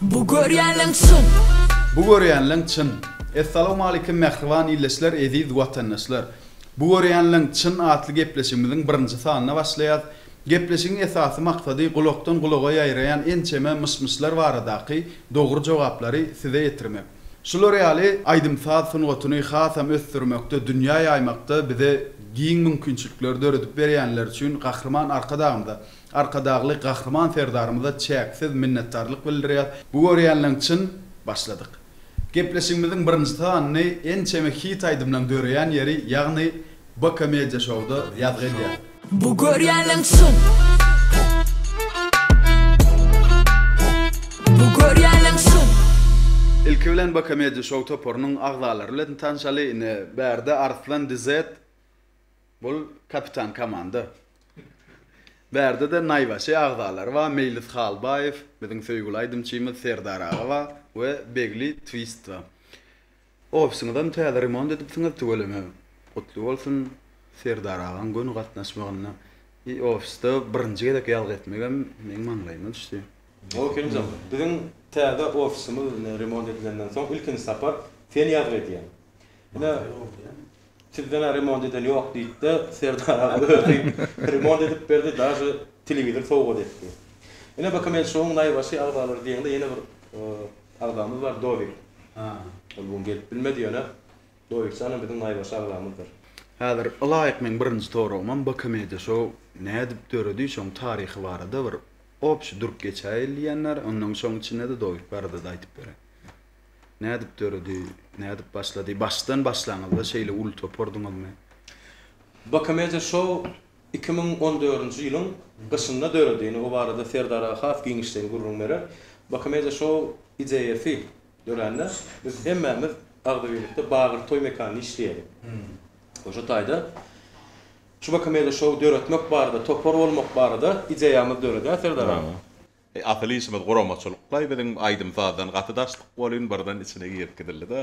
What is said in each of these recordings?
Bu görýänleň çyn. Bu görýänleň çyn. Essalawmalikim mähriban illeçler eziz watandaşlar. Bu görýänleň çyn atly gepleşigimiziň birinji sanyna başlaýas. Gepleşigiň esasy maksady gulakdan gulaga ýaýraýan ençeme myş-myşlar baradaky dogry jogaplary size ýetirmek. Şular ýaly aýdym-saz sungatyny hasam ösdürmekde dünýä ýaýmakda bize giň mümkinçilikleri döredip berýänler üçin Gahryman Arkadagymyza, Arkadagly Gahryman Serdarymyza çäksiz minnetdarlyk bildirýäs. Bu görýänleň çyn başladyk. Gepleşigimiziň birinji sanyny ençeme hit aýdymlaň döreýän ýeri ýagny BK Media Show-da ýazgy edýäs. Bu görýänleň çyn. Bu görýänleň çyn. Ilki bilen BK Media Show toparynyň agzalary bilen tanşaly ine bärde Arslan DZ Bul kapitan komanda. Bärdede naýbaşy agzalary bar Meýlis Halbaýew, biziň söýgüli aýdymçymyz Serdar aga bar we Begli Twist bar. Ofisiňizem täze remont edipsiňiz tüweleme gutly bolsun Serdar agaň göni gatnaşmagynda i ofisde birinji gezek ýazgy etmegem meň maňlaýyma düşdi. Gowy Kerimjan, biziň täze ofisimiz ine remont edilenden soň ilkinji sapar sen ýazgy edýäň. Ine Sizden-ä remont eden ýok diýip-de, Serdar aga özi remont edip berdi, daže telewizor sowgat etdi. Ine, bakym el şoň naýbaşy agzalary diýeňde ýene bir agzamyz bar, Dowik. Ol bu gün gelip bilmedi, ýöne Dowikshanam biziň naýbaşy agzamyzdyr. Häzir ylaýyk meň birinji soragymam BKM-de şo nädip döredi, şoň taryhy barada bir obşi durup geçäýeli diýenler, ondan şoň içinde-de Dowik barada-da aýdyp beräý. Nädip döredi, nädip başlady? Başdan başlaňyzda şeýle uly topardyňyzmy? Bokomedia Show iki müň on dördünji ýylyň gyşynda döredi. Indi bu barada Serdar aga has giňişleýin gürrüň berer. Bokomedia Show ideýasy dörände biz hemmämiz agzybirlikde Bagyr toý mekanynda işleýärdik. We şu taýda şu Bokomedia Show döretmek barada, topar bolmak barada ideýamyz döredi, hä Serdar aga? Eý asyl işimiz guramaçylyklaý biziň aýdym sazdan gaty daşlyk bolyn birden içine girip gidildi da.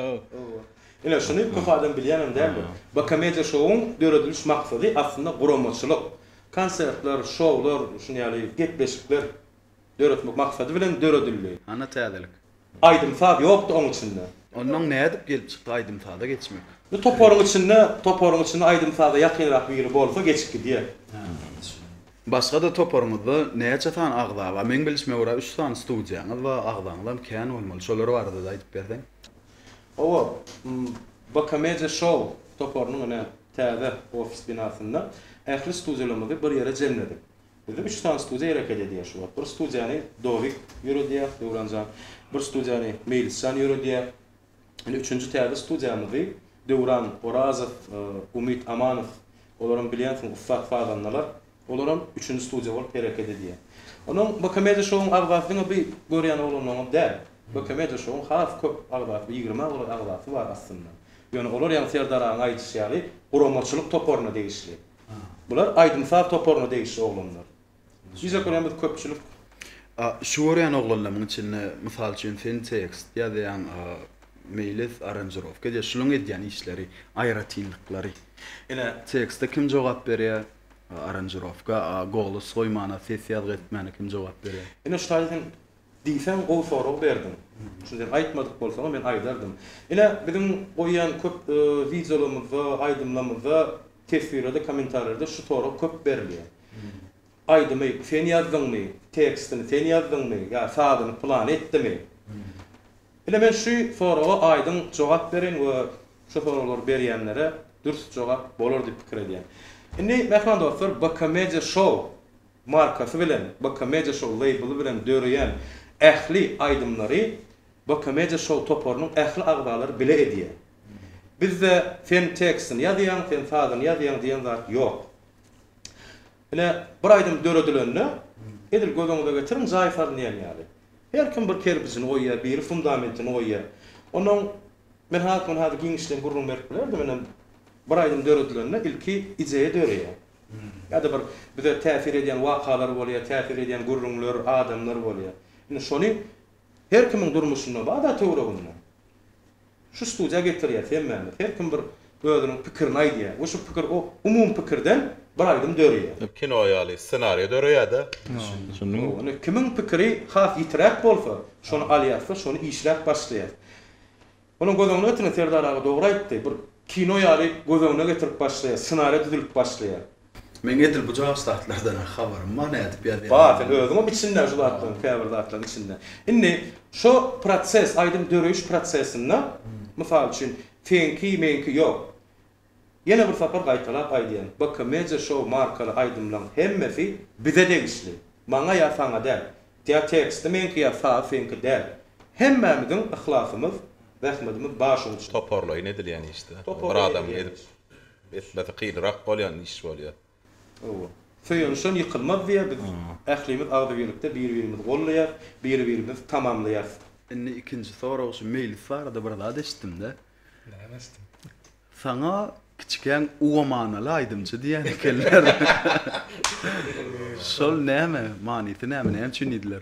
Ine şuny köp adam bilýänem däldir. Bu komediýa şowuň dörediliş maksady aslynda guramaçylyk. Konsertler, şowlar, şuny ýaly gepleşikler döretmek maksady bilen döredildi. Hany täzelik. Aýdym-saz ýokdy oň içinde. Onnoň nädip gelip çykdy aýdym-saza geçmek? Bu toparyň içinde, toparyň içinde aýdym-saza ýakynrak biri bolsa geçip gidýär. Başga-da toparyňyzda näçe sany agza bar? Meň bilişime görä üç sany studiýaňyz bar, agzaňyzam kän bolmaly. Şolar barada-da aýdyp berseň. Hawa, Bokamedia Show toparynyň ine täze ofis binasynda ähli studiýalarymyzy bir ýere jemledik. Bizde üç sany studiýa hereket edýär şu wagt. Bir studiýany Dowik ýöredýär, Döwran jan. Bir studiýany Meýlis jan ýöredýär. Indi üçünji täze studiýamyzy Döwran Orazow, Umyt Amanow, olaram bilýänsiň ussat sazandalar. Olaram üçünji studiýa bolup hereket edýär. Onuň B-Komediýa şowuň agzasy diňe bi görýän oglanlaryňam däl. B-Komediýa şowuň has köp agzasy, ýigrime golaý agzasy bar aslynda. Ýöne olar ýaňy Serdar agaň aýdyşy ýaly guramaçylyk toparyna degişli. Bular aýdym-saz toparyna degişli oglanlar. Bize görä biz köpçülik. Şu görýän oglanlaryň içinde, mysal üçin, sen tekst ýazýaň, Meýlis aranžirowka edýär. Şularyň edýän işleri, aýratynlyklary. Ine, tekste kim jogap berýär? Aranžirowka, golas goýmana, ses ýazgy etmäne kim jogap berýär? Ine, şu taýda sen diýseň gowy sorag berdiň. Şuny sen aýtmadyk bolsaň, men aýdardym. Ine, biziň goýýan köp wideolarymyzda, aýdymlarymyzda Teswirlerde, kommentarlarda şu sorag köp berilýär. Aýdymy sen ýazdyňmy, tekstini sen ýazdyňmy ýa sazyny pylany etdimi? Ine men şu soraga aýdyň jogap bereýin we şu soraglary berýänlere dürs jogap bolar diýip pikir edýän. Indi mähriban dostlar BK Media Show markasy bilen, BK Media Show label bilen döreýän ähli aýdymlary BK Media Show toparynyň ähli agzalary bile edýär. Bizde sen tekstini ýazýaň, sen sazyny ýazýaň diýen zat ýok. Ine, bir aýdym döredilende, edil göz öňüňize getiriň, jaý salynýan ýaly. Her kim bir kerpijini goýýar, biri fundamentini goýýar. Onuň, men has muny häzir giňişleýin gürrüň berip bilerdim, ine, bir aýdym döredilende ilki ideýa döreýär. Ýa-da bir bize täsir edýän wakalar bolýar, täsir edýän gürrüňler, adamlar bolýar. Ine, şony her kimiň durmuşynda bar-da töwereginde. Şu studiýa getirýär hemmämiz. Her kim bir özüniň pikirini aýdýar we şu pikir o umumy pikirden bir aýdym döreýär. Kino ýaly ssenariýa döreýär-de. Düşündiňmi? Indi kimiň pikiri has ýitiräk bolsa, şony alýas-da, şony işläp başlaýas. Onuň göz öňüne getirene Serdar aga dogry aýtdy. Bir kino ýaly göz öňüne getirip başlaýar, ssenariýa düzülip başlaýar. Meň edil bu jaş zatlardan-a habarym bar nädip ýazýandygymy. Bar sen özüňem içinde şu zatlaryň käbir zatlaryň içinde. Indi şo proses aýdym döreýiş prosesinde mysal üçin seňki meňki ýok. Ýene bir sapar gaýtalap aýdýan BKMedia Show markaly aýdymlaň hemmesi bize degişli. Maňa ýa saňa däl. Ýa teksti meňki ýa sazy seňki däl. Hemmämiziň yhlasymyz, zähmedimiz bar şuň üçin. Toparlaýyn edilýän işde. Bir adam edip Etmesi kynrak bolýan iş bolýar. Hawa. Söýenişen ýykylmaz diýýär, biz ählimiz agzybirlikde bir-birimizi gollaýarys, bir-birimizi tamamlaýarys. Indi ikinji sorag şu meýlis barada bir zat eşitdim-de. Näme eşitdiň? Saňa kiçikäň uwamanaly aýdymçy diýýän ekenler. Şol näme? Manysy näme? Näme üçin diýdiler?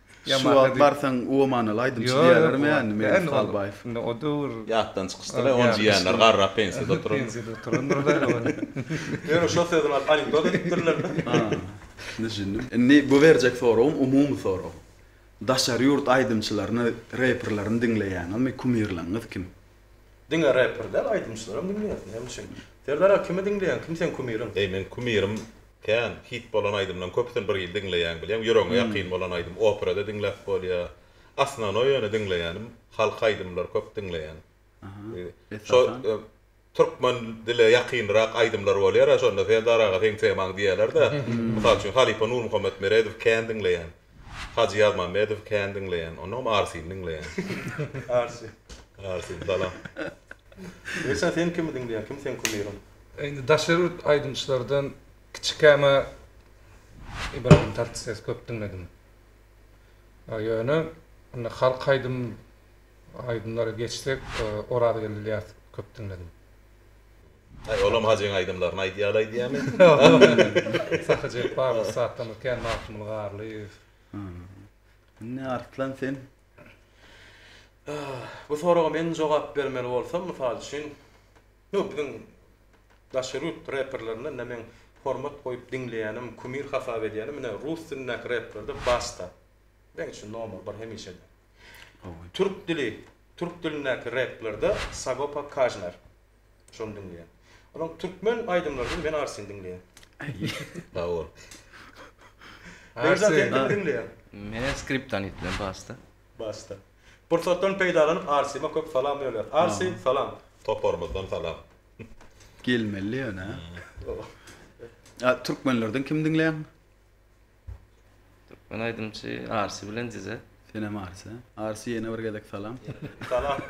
Şu wagt barsaň uamanaly aýdymçy diýerlermi ýa nime Ýa indi ol Indi o döwür Ýatdan çykyşdyr-a ony jiýanlar garrap pensiýada oturan. Pensiýada oturandyr-da ýöne. Ýöne şo sözüni alyp anekdot edipdirler-de. Ha. Düşündim. Indi bu berjek soragym umumy sorag. Daşary ýurt aýdymçylaryny, reperlerini diňleýäňizmi? Kumirleriňiz kim? Diňe reper däl aýdymçylaram diňleýärsiň näme üçin? Serdar aga kimi diňleýäň kim seň kumiriň? Eý meň kumirim kän hit bolan aýdymlaň köpüsini bir hili diňleýän bilýäň ýüregiňe ýakyn bolan aýdym operada diňläp bolýa osnonoý ýöne diňleýänim halk aýdymlar köp diňleýän şo türkmen dile ýakynrak aýdymlar bolýara şonda serdar aga seň temaň diýälerde mysal üçin halypa nurmuhammet meredow kän diňleýän Hajy Ýazmammedow kän diňleýän, onam Arsyny diňleýän. Arsy. Arsy salam. Ersan sen kimi diňleýäň, kim seň kumyryň? Indi daşary ýurt aýdymçylardan kiçikäma Ibragim Tatlysesy köp diňledim. Ýöne indi halk aýdym aýdymlara geçsek Orazgeldi Ylýasowy köp diňledim. Aý olam hajyň aýdymlaryny aýdýaly aýdýamy? Sahy Jepbarow ussatdan kän Magtymguly Garlyýew. Indi Arslan sen. Bu soraga men jogap bermeli bolsam mysal üçin ýok biziň daşary ýurt reperlerinden ine meň hormat goýup diňleýänim kumir hasap edýänim ine rus dilindäki replerde basta meň üçin nomer bir hemişe de. Türk dili, türk dilindäki replerde Sagopa Kajmer. Şony diňleýän. Olaň türkmen aýdymlaryny men arsin diňleýän. Sag bol. Berijan sen kim diňleýän? Men Skriptonit bilen Basta. Basta. Pursatdan peýdalanyp Arsime köp salam ýolýar. Arsi salam. Toparymyzdan salam. Gelmeli ýöne. Türkmenlerden kim diňleýän? Türkmen aýdymçy Arsy bilen dize. Senem Arsy. Arsy ýene bir gezek salam. Salam.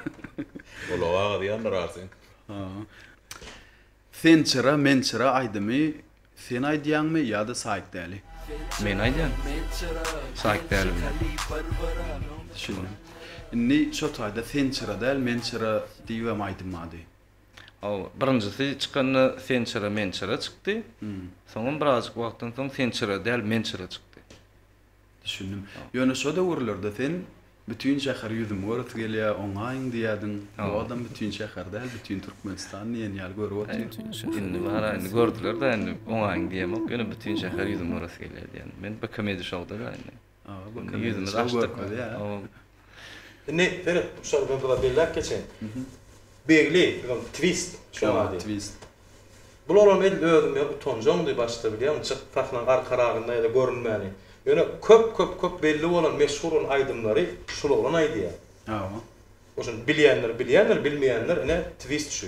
Gulagy agyrýandyr Arsyň. Sen çyra men çyra aýdymy sen aýdýaňmy ýa-da Saýk Däli? Men aýdýan. Saýk Däli bilen. Düşündim. Indi şo taýda sen çyra däl men çyra diýibem aýdym ady. Hawa, birinjisi çykanda Sençira Mençira çykdy. Soňam birazjyk wagtdan soň Sençira däl, Mençira çykdy. Düşündim. Ýöne şo döwürlerde sen Bütin şäher ýüzümi göresi gelýär, oňaýyň diýýärdiň. Bu adam bütin şäher däl, bütin Türkmenistan diýen ýaly görüp otyr. Indi bara, indi gördüler-de, indi oňaýyň diýemok, ýöne bütin şäher ýüzümi göresi gelýär diýýän. Men Bekomedy şou-da-da indi. Aga bakyn ýüzümizi açdyk biz ýa. Indi seret şol bir gyza belläp geçeýin. Begli biziň twist şunuň ady. Twist. Bularam edil özüm ýa utanjaňdy başda bilýäňmi çykyp sahnaň arka ragynda ýa-da görünmäni. Ýöne köp köp köp belli bolan meşhur bolan aýdymlary şul oglan aýdýa. Hawa. Oşuny bilýänler bilýändir bilmeýänler ine twist şu.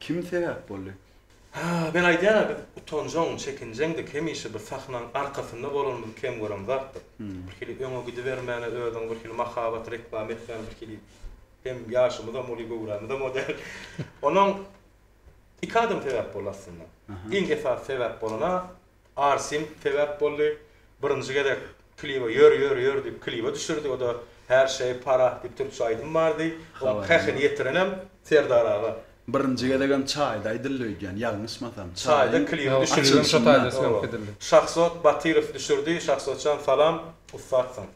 Kim sebäp boldy? Hä, men aýdýan-a, biz utanjaň, çekinjeňdik, hemişe bir sahnaň arkasynda bolanymyzy kem gören zatdyk. Birhili öňe gidibermäne özüňi birhili mahabat reklama etmäne birhili hem ýaşymyzam uly, göwrämizem o däl. Onuň iki adam sebäp boldy aslynda. Iň esasy sebäp bolan-a, Arsim sebäp boldy. Birinji gezek kliba ýör ýör ýör diýip kliba düşürdi. O-da Her şeý para diýip türkçe aýdym bardy. Onuň hähini ýetirenem Serdar aga. Birinji gezegem çaýda aýdyldy öýdýän, ýalňyşmasam. Çaýda klibi düşürildi. Şahzod Batyrow düşürdi. Şahzodjan salam, ussatsyň.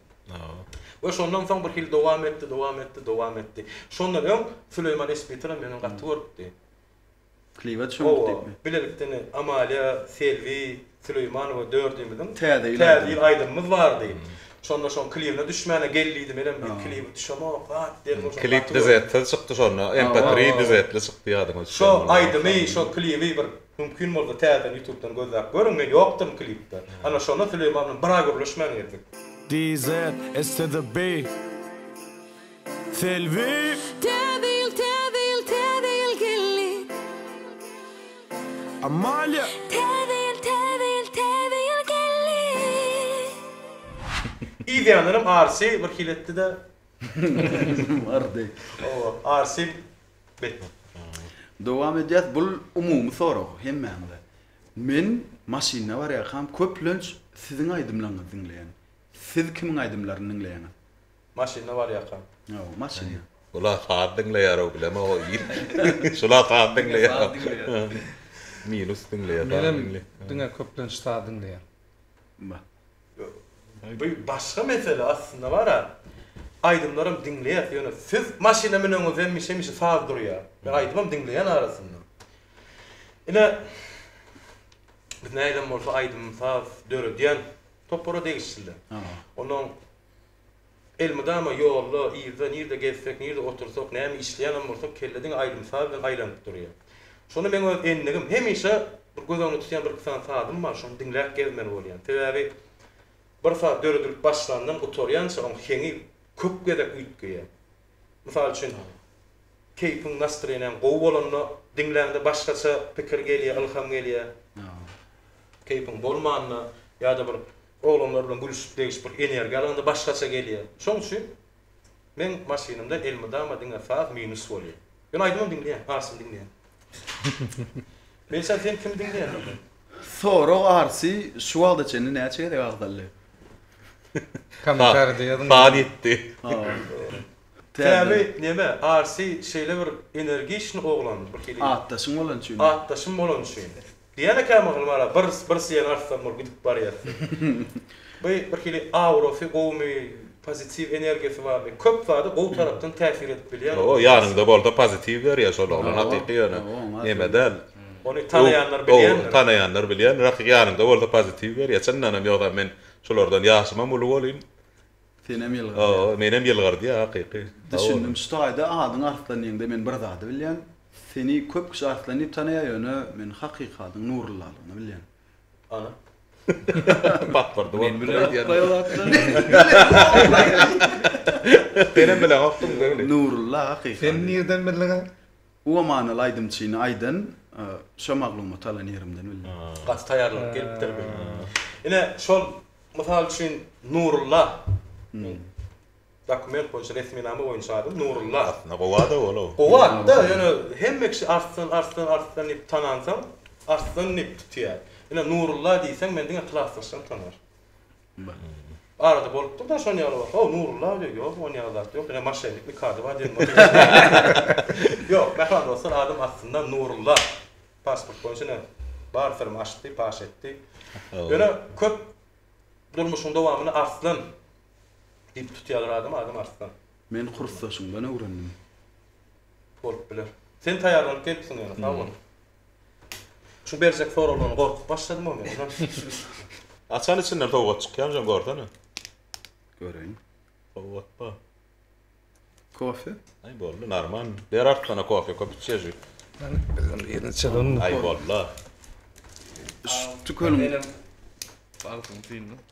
We şondan soň bir hili dowam etdi, dowam etdi, dowam etdi. Şondan öň Süleýman Espitram meni gaty görüpdi. Kliwet şoňki degme. Bilelikden Amalia, Selbi Süleýmanowa dördümiziň Täze ýyl aýdymymyz bardy. Şonda şoň kliwine düşmäne gel diýdi. Menem bir kliwe düşemok. Hat dedim ol şonda. Klip düzetde çykdy şonda. MP3 düzetli çykdy ýadyňa düşse. Şo aýdymy, şo kliwi bir mümkin bolsa täzeden ýutubdan gözläp görüň. Men ýokduryn klipde. Ana şonda Süleýman bilen bir aý gürleşmän gezdik. DZ, STDB. Selbi! Täze ýyl, täze ýyl, täze ýyl geldi. Amalia! Täze ýyl, täze ýyl, täze ýyl geldi. Idýänlerim Arsy bir hili etdi-de. Bardy. Hawa, Arsy beýtmedi. Dowam edýäs, bul umumy sorag hemmämize. Men maşynda barýarkam köplenç siziň aýdymlaryňyzy diňleýän. Siz kimiň aýdymlaryny diňleýäňiz? Maşynda barýaka. Hawa, maşynda. Bula saz diňleýärow bilemok o il. Şula saz diňleýär. Minus diňleýär. Menem diňe köplenç saz diňleýän. Ba. Bu başga mesele aslynda bar a. Aýdymlaram diňleýäs ýöne siz maşyna müneňizde hemişe hemişe saz durýar. Men aýdymam diňleýän arasynda. Ine biz nädem bolsa aýdym saz döredýän topara degişli. Ondan Elmydama ýolda, yzda, nirde gezsek, nirde otursak, näme işleýänem bolsak, kelle diňe aýdym-saz bilen aýlanyp durýar. Şonda meň öz endigim, hemişe bir göz öňünde tutýan bir-iki sany sazym bar, şony diňläp gezmeli bolýan. Sebäbi bir saz döredilip başlandan gutarýança oň heňi köp gezek üýtgeýär. Mysal üçin, keýpiň, nastreniýaň gowy bolanda diňläňde başgaça pikir gelýär, ylham gelýär. Keýpiň bolmanda ýa-da bir Oglanlar bilen gülüşip degişip bir energiýa alanda başgaça gelýär. Şoň üçin meň maşynymda elmydama diňe saz minus bolýar. Men aýdymam diňleýän, Arsyny diňleýän. Melihjan sen kimi diňleýän onda? Sorag Arsy şu wagta çenli näçe gezek agzaldy? Kommentarida ýazyň. Saz ýetdi. Täbi neme Arsy şeýle bir energiçny oglan bir hili. Atdaşyň bolany üçin. Atdaşym bolany üçin. Diýýän eken mahaly bala, bir bir syýan artsaň bol gidip barýas diýip. Bu birhili aurasy gowumy, pozitiw energiýasy barmy, köp zada gowy tarapdan täsir edip bilýär. Hawa, ýanyňda bolsa pozitiw berýär şol oglan hakyky ýöne näme däl. Ony tanaýanlar bilýändir. Tanaýanlar bilýändir, hakyky ýanyňda bolsa pozitiw berýär. Çyndanam ýogsa men şulardan ýaşymam uly bolýyn. Senem ýylgyrýa. O menem ýylgyrdýa hakyky. Düşündim şu taýda adyň Arslan diýeňde men bir zady bilýän seni köp kişi Arslan diýip tanaýa ýöne men hakyky adyň Nurullalygyny bilýän. Ana. Batyrdy bolup dur aýdýan. Senem bilen okdum Nurulla hakyky ady. Sen nirden bildiňa? Uwa manyly aýdymçyny aýdan şo maglumaty alan ýerimden bildim. Gaty taýýarlanyp gelipdir bu. Ine şol mysal üçin Nurulla. Men dokument boýunça resminama boýunça adym Nurulla. Aslynda gowy ada ol-ow. Gowy atda ýöne hemme kişi Arslan Arslan Arslan diýip tanansoň Arslan diýip tutýar. Ine Nurulla diýseň men diňe klasdaşlarym tanar. Arada bolupdyr-da şon ýaly bolsa, o Nurulla diýýär, ýok, on ýaly zat ýok, ine moşennik nikady bar diýen bolýar. Ýok, mähram dostlar, adyň astynda Nurulla, pasport boýunça ine bar syrymy açdy, paş etdi. Ýöne köp durmuşyň dowamynda Arslan diýip tutýarlar adamy, adym Arslan. Men kursdaşyňdan öwrendim. Bolup biler. Sen taýýarlanyp gelipsiň ýöne, sag bol. Şu berjek soraglardan gorkup başladym o men. Açan içinden sowgat çykýamy jan görsene. Göreýin. Sowgat bar. Kofe? Aý boldy narman. Ber artdana kofe köp içýäjik. Bizden birini çalalymmy? Aý boldy. Şu tükeniň. Agzyňy syýyna.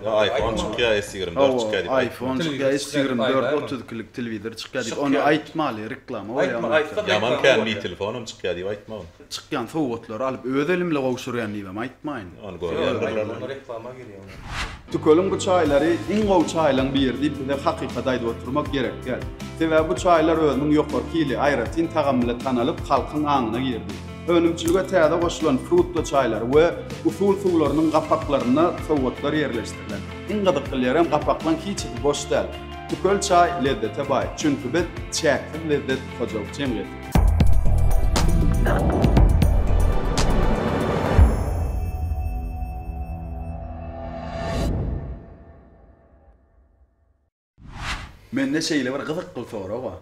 Ýa aýfon çykýa s ýigrimi dört çykýa diýip aýtma. Aýfon çykýa s ýigrimi dört otuz ikilik telewizor çykýa diýip ony aýtmaly reklama bolýa ony aýtsaň. Ýaman känli telefonam çykýa diýip aýtma ony. Çykýan sowgatlary alyp öz elimle gowşurýan diýibem aýtmaýyn. Ony görýändirler ony. Onda reklama girýa onda. Tükeliň bu çaýlary iň gowy çaýlaň biri diýip bize hakykady aýdyp oturmak gerek däl. Sebäbi bu çaýlar özüniň ýokarky hili, aýratyn tagamy bilen tanalyp halkyň aňyna girdi. Önümçilige täze goşulan frukto çaýlary we usul suwlarynyň gapaklarynda sowgatlar ýerleşdirilen. Iň gyzykly ýerem gapaklaň hiçisi boş däl. Tükel çaý lezzete baý, çünki biz Çäksiz lezzet hojalyk jemgyýeti. Mende şeýle bir gyzykly sorag bar.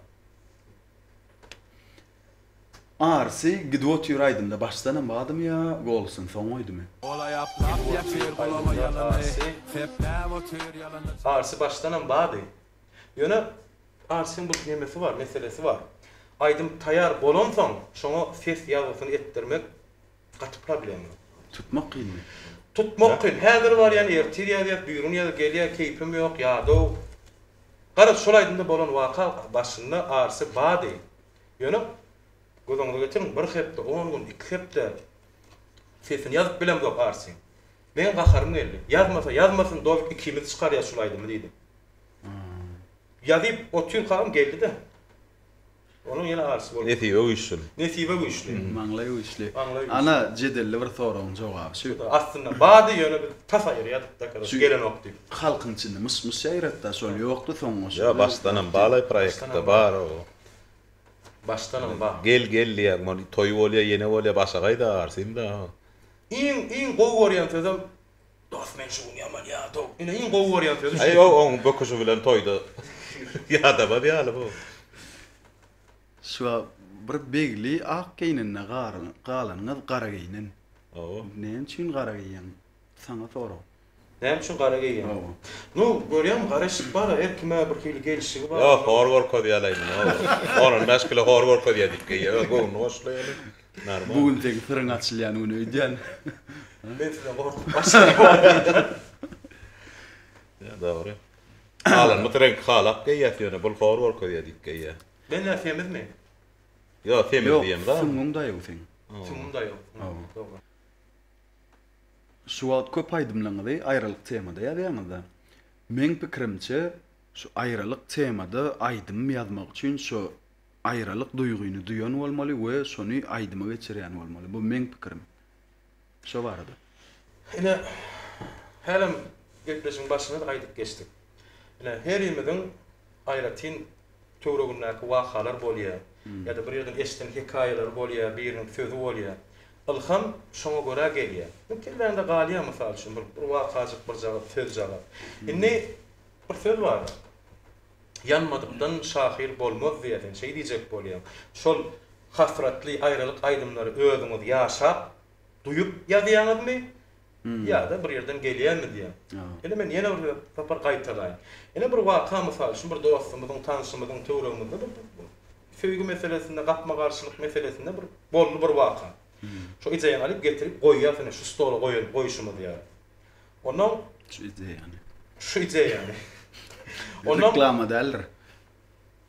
Arsy gidip otyr aýdymda başdanam badymy ýa golsyn soň goýdymy. Arsy başdanam bady. Ýöne Arsyň bir nemesi bar, meselesi bar. Aýdym taýar bolansoň şoňa ses ýazgysyny etdirmek Gaty problema. Tutmak kynmy? Tutmak kyn. Häzir barýan ertir ýazýas, birigün ýazýas, gelýä keýpim ýok, ýadaw. Garaz, şol aýdymda bolan waka başynda arsy bady. Ýöne göz öňüňize getiriň, bir hepde, on gün, iki hepde sesini ýazyp bilemzok arsyň. Meň gaharym geldi. Ýazmasa ýazmasyn, dowik ikimiz çykarýas şul aýdymy diýdim. Ýazyp otyrkagam geldi-de. Onuň ýene arysy bolupdyr. Nesibe güýçli. Nesibe güýçli. Maňlaý güýçli. Maňlaý güýçli. Ana, jedelli bir soragyň jogaby şu. Şuda, astynda bardy, ýöne biz tas aýyrýadykda, karoç, gelenok diýip. Halkyň içinde myş-myş ýaýratdy-a, şol ýokdy soň goşgy. Ýa, başdanam balaý proýektde bar o. Başdanam bar. Gel, gel diýýän bol, toý bolýa, ýene bolýa, başagaý-da, arsym-da. Iň, iň gowy görýän sözem Dos men şu gün ýaman ýadaw. Ine iň gowy görýän sözi şu eken. Aý oň böküşi bilen toýda ýadamaz ýaly bu. Şu bir begli ak geýnende galan gyz gara geýnen. Hawa. Näme üçin gara geýýäň? Saňa sorag. Näme üçin gara geýýäň? Hawa. Nu görýäňmi garaşyp bara her kime bir hili gelşigi bar. Ýok hor görkezýäleýin. On bäş kilo hor görkezýä diýip geýýä. Göwnüni goşlaýaly. Bu gün seň syryň açylýan gün öýdýän. Men size gorkup başlaýan. Ýa dogry. Galanymyz reňk halap geýýäs ýöne bul hor görkezýä diýip geýýä. Menler semizmi? Ýok semiz diýem zat. Ýok süňňüň daýaw seň. Süňňüm daýaw. Hawa. Şu wagt köp aýdymlaňyzy aýralyk temada ýazýaňyzda. Meň pikirimçe şu aýralyk temada aýdym ýazmak üçin şu Aýralyk duýgyny duýan bolmaly we şony aýdyma geçirýän bolmaly. Bu meň pikirim. Şo barada. Ine, hälem gepleşigiň başynda-da aýdyp geçdik. Ine, herimiziň aýratyn töwregindäki wakalar bolýar ýa-da bir ýerden eşiden hekaýalary bolýar, biriniň sözi bolýar. Ylham şoňa görä gelýär. Bu kelläňde galýar, mysal üçin, bir wakajyk, birjagaz, sözjagaz. Indi bir söz bar. Ýanmadykdan şahyr bolmaz diýersiň, şeý diýjek bolýaň. Şol hasratly aýralyk aýdymlary özüňiz ýaşap, duýup ýazýaňyzmy ýa-da bir ýerden gelýärmi diýýän. Ine men ýene bir sapar gaýtalaýyn. Ine bir waka mysal üçin bir dostumyzyň, tanşymyzyň töweregimizde bir söýgi meselesinde, gapma-garşylyk meselesinde bir boldy bir waka. Şo ideýany alyp getirip goýýas ine şu stola goýalyp goýşumyz ýaly. Onuň şu ideýany. Şu ideýany. Onuň reklama däldir.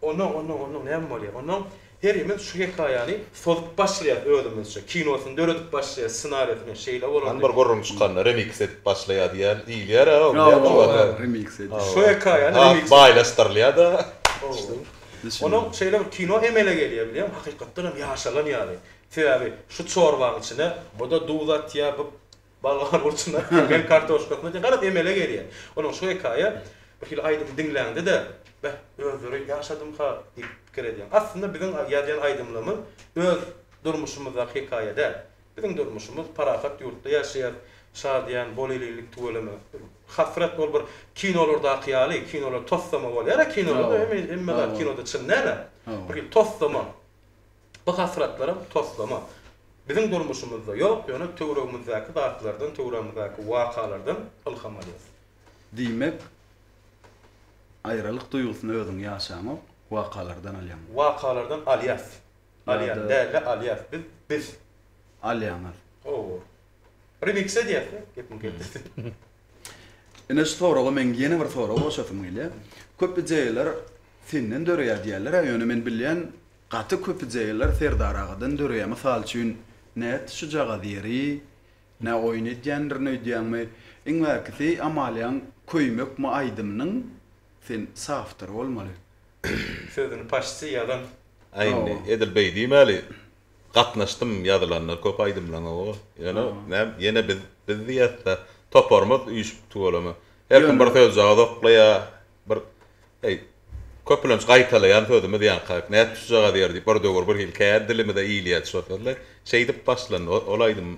Onuň, onuň, onuň näme bolýar? Onuň herimiz şu hekaýany sozup başlaýas özümizçe. Kinosyny döredip başlaýas, ssenariýasyny şeýle bolardy. Hany bir gürrüň çykanda remix edip başlaýar diýýän diýilýär a onda ýa şolar bar. Remix edip. Şu hekaýany remix edip. Baýlaşdyrylýar-da. Onuň şeýle bir kino emele gelýär bilýäňmi? Hakykatdan hem ýaşalan ýaly. Sebäbi şu çorbanyň içine bu-da duz atýar, bu Balga burçuna, Türkmen kartoşkasyna deň garaz emele gelýär. Onuň şu hekaýa bir hili aýdymy diňläňde-de, Beh, özleri ýaşadym-ha diýip pikir edýäň. Aslynda biziň ýazýan aýdymlarymyz öz durmuşymyzdaky hekaýa däl. Biziň durmuşymyz parahat ýurtda ýaşaýas, şadyýan, bol-elinlik tüweleme. Hasrat ol bir kinolardaky ýaly, kinolar tossama bolýar-a kinolarda, emma zat kinoda çyn däl-ä. Bir hili tossama. Bu hasratlaram toslama. Biziň durmuşymyzda ýok, ýöne töweregimizdäki zatlardan, töweregimizdäki wakalardan ylham alýarys. Diýmek, aýralyk duýgusyny özüň ýaşaňok, wakalardan alýaň. Wakalardan alýas. Alýan däl-de, alýas. Biz, biz. Alýaňyz. Hawa. Remix edýäs-de, gepiň keltesi. Ine şu soraga meň ýene bir sorag goşasym gelýär. Köp ideýalar senden döreýär diýýärler-ä, ýöne men bilýän, Gaty köpüjegiler Serdar agadan döreýä mysal üçin nätdi şujagaz ýeri nä oýun edýändirin öýdýäňmi iň bärkisi Amaliýaň köýmekmi aýdymynyň sen sawtory bolmaly. Sözüni paşçy ýazan. Aý indi edil beý diýmäli gatnaşdym ýazylanlar köp aýdymlaň oba ýöne näm ýene biz biz diýäsda toparymyz üýşüp tüweleme her kim bir sözjagaz oklaýa Bir, heý, köplenç gaýtalaýan sözümiz ýaňky, Nätdi şujagaz ýer diýip, bir döwür bir hili kän dilimize ilýärdi şo sözler. Şeýdip başlandy o, ol aýdym.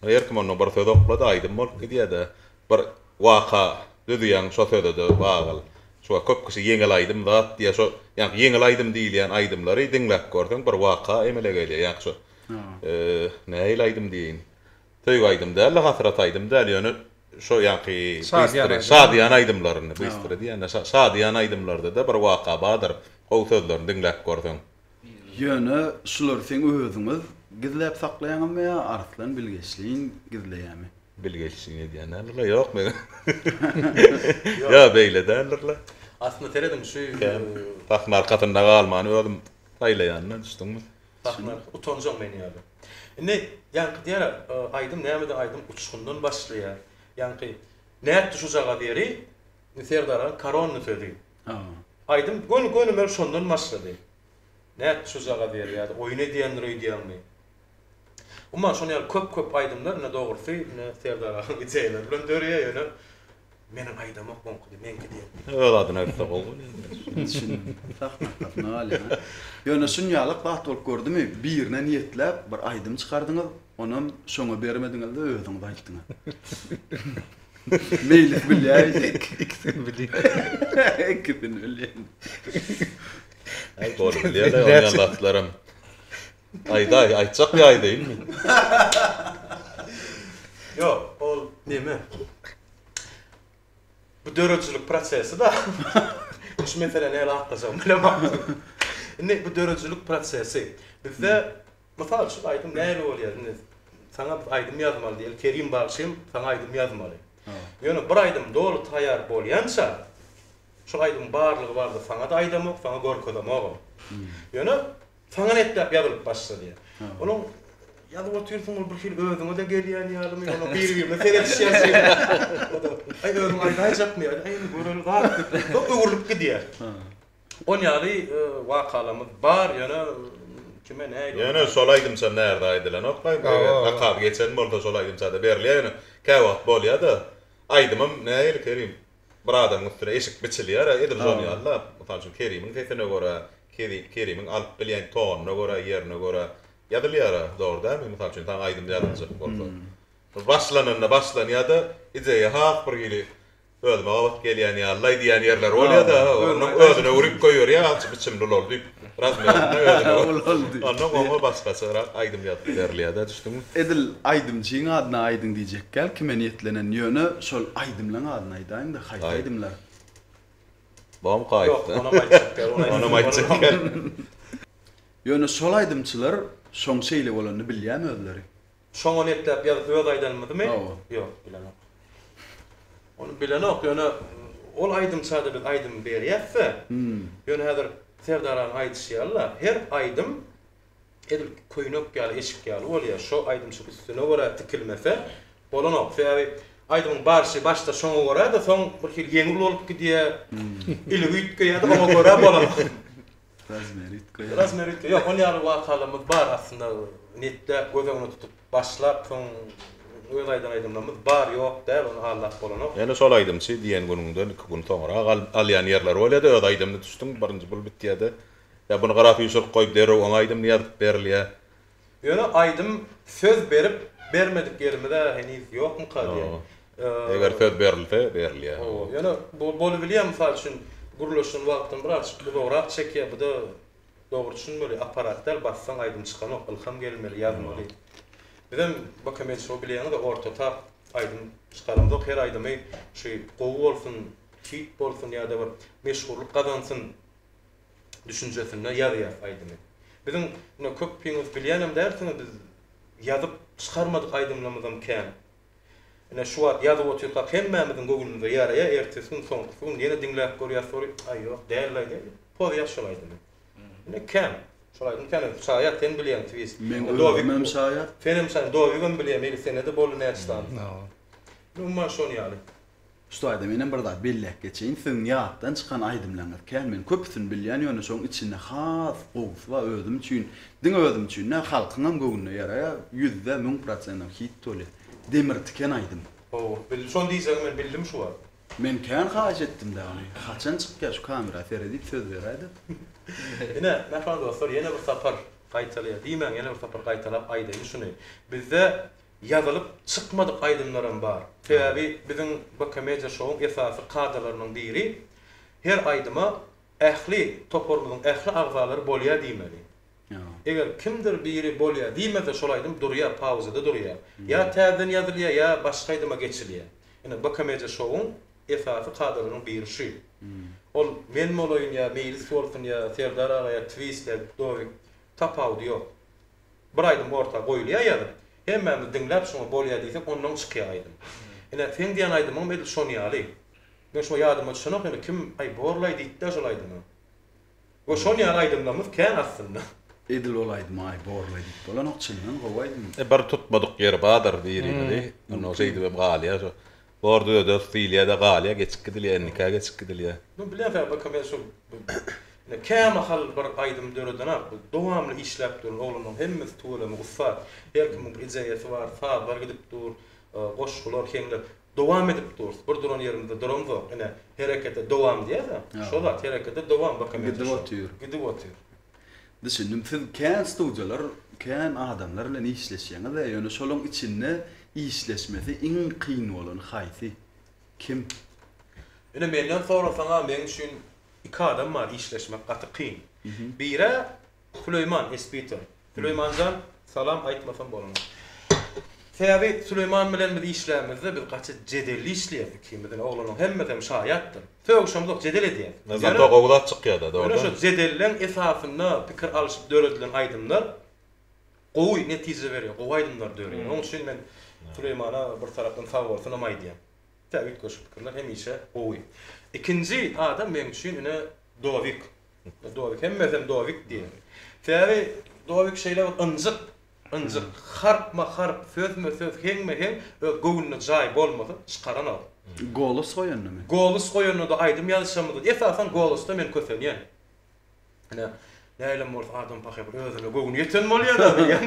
Her kim ondan bir söz oklady, aýdym bolup gidýär-de. Bir waka düzýäň şo söze-de bagyl. Şuňa köp kişi ýeňil aýdym zat diýýär. Şo ýaňky ýeňil aýdym diýilýän aýdymlary diňläp görseň, bir waka emele gelýär. Ýaňky şo, eee, nähili aýdym diýeýin? Söýgi aýdym däl-de, hasrat aýdym däl, ýöne şo ýaňky bystre, şadyýan aýdymlarynda, bystre diýen-ä, şadyýan aýdymlarda-da bir waka badyr, gowy sözlerini diňläp görseň. Ýöne şulary seň özüňiz gizläp saklaýaňyzmy ýa Arslan bilgeşleýin gizleýärmi? Bilgeşleýin edýän däldir-le, ýok meger. Ýa beýle däldir-le. Aslynda serediň, şu. Sahna arkasynda galmany özüm saýlaýan-da, düşdüňmi? Sahna utanjak men ýaly. Indi ýaňky diýýär aýdym nämede aýdym uçgundan başlaýar. Ýaňky nätdi şujagaz ýeri Serdaryň koronny sözi. Aýdym göni göni men şondan başlady. Nätdi şujagaz ýeri ýa-da oýun edýändir öýdýäňmi. Umuman şonuň ýaly köp köp aýdymlar ine dogrusy ine Serdar agaň ideýalary bilen dörýär ýöne Meniň aýdamok oňkydy meňki diýerdi. Öz adyny aýtsa gowy bolýa. Ýöne şunýalak zat bolup gördümi, birine niýetläp bir aýdym çykardyňyz, onam şoňa bermediňizde özüňiz aýtdyňyz. Meýlis bilýär indi. Ikisini bilýär. Ikisini bilýär. Goly bilýär-le, oňýan zatlaram. Aýdaý, aýtjak ýaý dynmy? Ýok, ol neme? Bu döredijilik prosesi-da. Şu mesele nädip atlajagymy bilemok. Indi bu döredijilik prosesi. Bizde, mysal üçin, aýdym nähili bolýar? Indi saňa biz aýdym ýazmaly diýeli, Kerim bagşym, saňa aýdym ýazmaly. Ýöne bir aýdym doly taýýar bolýança, şol aýdymyň barlygy bardyr, saňa-da aýdamok, saňa görkezemogam. Ýöne Saňa nepläp ýazylyp başlady. Onuň Ýazyp otyrsyň ol birhili özüňe-de gelýän ýalymy, onuň bir-birine seredişýäsi ýaly. Aý özüň aýdaýjakmy ýa-da aý indi göreli zat diýip soň öwrülip gidýär. Ol ýaly wakalamyz bar, ýöne kime nähili. Ýöne şol aýdymça närde aýdylanokmy aýdym eger zakaz geçen bolsa şol aýdymçada berilýär ýöne käwagt bolýada aýdymym nähili Kerim Bir adamyň üstüne eşik biçilýär-ä, edil şon ýaly-da. Mysal üçin, Kerimiň sesine görä, Kerimiň alyp bilýän tonuna görä, ýerine görä ýazylýar-a, dogry dälmi? Mysal üçin, saňa aýdym ýazyljak bolsa. Başlananda başlanýar-da, ideýa has bir hili özüme gabat gelýän ýaly-laý diýýän ýerleri bolýar-da, onuň özüne urip goýberýär, azçy biçimli ol-ol diýip. Razmerinde özüne görä. Ondan goňa başgaçarak aýdym ýazyp berilýär-dä, düşdüňmi? Edil aýdymçyň adyny aýdyň diýjekkäl kime niýetlenen, ýöne şol aýdymlaň adyny aýdaýyň-da, haýsy aýdymlar? Bom kaýt. Ýok, onam aýtjak däl, ony aýtjak. Onam aýtjak däl. Ýöne şol aýdymçylar şoň şeýle bolanyny bilýämi özleri? Şoňa nepläp ýazyp öz aýdanymyzymy? Hawa. Ýok, bilenok. Ony bilenok, ýöne ol aýdymçada biz aýdym berýäs-de. Ýöne häzir Serdar agaň aýdyşy ýaly-la, her aýdym edil köýnek ýaly, eşik ýaly bolýar. Şo aýdymçy üstüne görä tikilmese bolanok. Sebäbi aýdymyň barşy başda şoňa görä-de, soň birhili ýeňil bolup gidýär. Ili üýtgeýär-de, oňa görä bolanok. Razmeritka. Razmeritka. Ýok, ol ýaly wakalarymyz bar aslynda. Netläp, göz öňüne tutup başlap, soň öz aýdan aýdymlarymyz bar, ýok däl, ony aldap bolanok. Ýöne şol aýdymçy diýen günüňden iki gün soňrak alýan ýerleri bolýa-da, öz aýdymyna düşdüň, birinji bul bitýä-de, ýa buny garaşyşyryk goýup derrew oňa aýdymly ýazyp berilýä. Ýöne aýdym söz berip bermedik ýerimiz-ä heniz ýokmyka diýen. Eger söz berilse, berilýär. Hawa, ýöne bu bolubilýär, mysal üçin, gürleşen wagtyň birazjyk uzagrak çekýär, bu-da dogry düşünmeli, apparat däl, bassaň aýdym çykanok, ylham gelmeli, ýazmaly. Bizem Bokemedia Show bilýäňiz-de ortatap aýdym çykaramzok, her aýdymy şu gowy bolsun, hit bolsun ýa-da bir meşhurlyk gazansyn, düşünjesinde ýazýas aýdymy. Biziň ine köpiňiz bilýänem dälsiňiz biz ýazyp çykarmadyk aýdymlarymyzam kän. Ine şu wagt ýazyp otyrkak hemmämiziň göwnümize ýaraýa ertesi gün soňkusy gün ýene diňläp görýas soly aý ýok dälilay diýip pozýas şol aýdymy. Ine kän şol aýdym kän özi şaýat sen bilýäň twist. Meň özümem şaýat. Senem şaýat dovigem bilýär meýli senede boldy näçe sany. Umuman şon ýaly. Şu taýda menem bir zat belläp geçeýin, siziň ýatdan çykan aýdymlaryňyz kän, men köpüsini bilýän, ýöne şoň içinde has gowusy bar, özüm üçin, diňe özüm üçin däl, halkyňam göwnüne ýaraýar, ýüzde müň prosentam hit doly, Demir tiken aýdym. Howwa, bildim, şony diýjegiňi men bildim şu wagt. Men kän haýyş etdim dä ony, haçan çykýar şu kamera sere diýip söz beräý dep. Ine, mähriban dostlar, ýene bir sapar gaýtalaýar, diýmäň, ýene bir sapar gaýtalap aýdaýyn şuny, bizde Ýazylyp çykmadyk aýdymlaram bar. Sebäbi biziň B-Komediýa şowuň esasy kadalarynyň biri, her aýdyma ähli, toparymyzyň ähli agzalary bolýar diýmeli. Eger kimdir biri bolýar diýmese şol aýdym durýar, pauzada durýar. Ýa täzeden ýazylýar, ýa başga aýdyma geçilýär. Ine, B-Komediýa şowuň esasy kadalarynyň biri şu. Ol men bolaýyn ýa Meýlis bolsun ýa Serdar aga ýa Twist ýa Dowik, tapawudy ýok. Bir aýdym orta goýulýar ýazyp, hemmämiz diňläp şuňa bolýa diýsek ondan çykýar aýdym. Ine seň diýen aýdymyňam edil şon ýaly. Men şuňa ýadyma düşenok ýöne kim aý borlaý diýipdä şol aýdyma. We şon ýaly aýdymlarymyz kän aslynda. Edil ol aýdyma aý borlaý diýip bolanok çyndan gowy aýdym. Bir tutmadyk ýeri badyr birimizi onda şeýdibem galýar. Orda öde stilýada galýa geçip gidilýä endika geçip gidilýä. Bu bilensoň baka men şul ine kämahal bir aýdym döredenok bu dowamly işläp duran oglanlaryň hemmesi tüweleme ussat her kimiň bir ideýasy bar sazlar gidip dur goşgular heňler dowam edip durys bir duran ýerimizde duramzok ine herekete dowam diýýäs a şo zat herekete dowam baka men gidip otyr gidip otyr. Düşündim siz kän studiýalar kän adamlar bilen işleşýäňizä ýöne şolaň içinde işleşmesi iň kyn bolany haýsy? Kim? Ine menden sorasaňa meň üçin iki adam bar işleşmek gaty kyn. Birä Süleýman Espito. Süleýmanjan salam aýtmasam bolanok. Sebäbi Süleýman bilen biz işlämizde biz gaty jedelli işleýäs ikimizem oglanyň hemmesem şaýatdyr. Sögüşemzok jedel edýäs. Nyzamda gowy zat çykýada dogry. Ýöne şo jedeleň esasynda pikir alyşyp döredilen aýdymlar gowy netije berýär gowy aýdymlar dörýär. Oň üçin men Süleýmana bir tarapdan sag bolsunam aýdýan. Tä üýtgeşik pikirler hemişe gowy. Ikinji adam meň üçin ine Dovik. Dovik hemmesem Dovik diýýär. Sebäbi Dovik şeýle bir ynjyk Ynjyr harpma-harp, sözme-söz, heňme-heň öz göwnüne jaý bolmasa, çykaranok. Golos goýandamy? Golos goýanda-da aýdym ýazyşamyzdyr. Esasan golosda men kösenýän. Ine, näleem bolsa adam pahyr bir özüne göwni ýeten bolýar-a diýýän.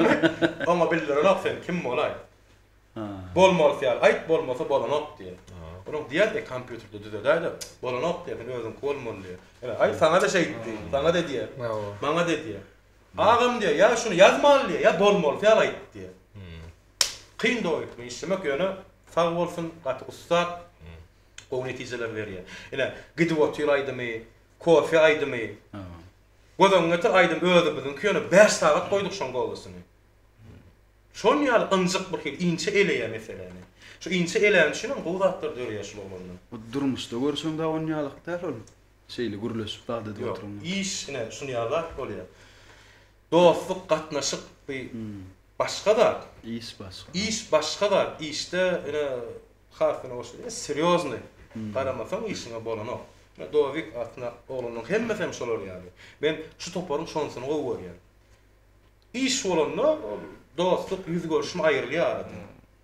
Oňa bildirenok sen kim bolaý. Bolmalysy ýaly aýt, bolmasa bolanok diýýär. Onuň diýýär-de kompýuterde düzedäý-de, bolanok diýýär, sen özüňki bolmaly diýýär. Ine, aý saňa-da şeýtdi, saňa-da diýýär, maňa-da diýýär. Agam diýýär, ýa şuny ýazmaly diýýär, ýa bolmalysy ýaly aýt diýýär. Kyn doly bu işlemek, ýöne sag bolsun, gaty ussat, gowy netijeler berýär. Ine, Gidip otur aýdymy, Kofe aýdymy, göz öňüňe getir, aýdym özümiziňki, ýöne bäş sagat goýduk şoň golasyny. Şol ýaly ynjyk birhili, inçe eleýär meseläni. Şu inçe elän üçinem gowy zatlar döreýär şul oglandan. Bu durmuşda görşüň dagy onýalyk däl ol. Şeýle gürleşip zat edip oturyň. Ýok, iş ine şun ýaly zat bolýar. Dostluk, gatnaşyk bu başga zat. Iş başga. Iş başga zat. Işde ine Hasan aga şeýle serýoznyý. Garamasaň işiňe bolanok. Ine Dowik atly oglanyň hemmesi hem şolar ýaly. Men şu toparyň şonsyny gowy görýän. Iş bolanda ol dostluk, ýüz görşme aýrylýar aradan.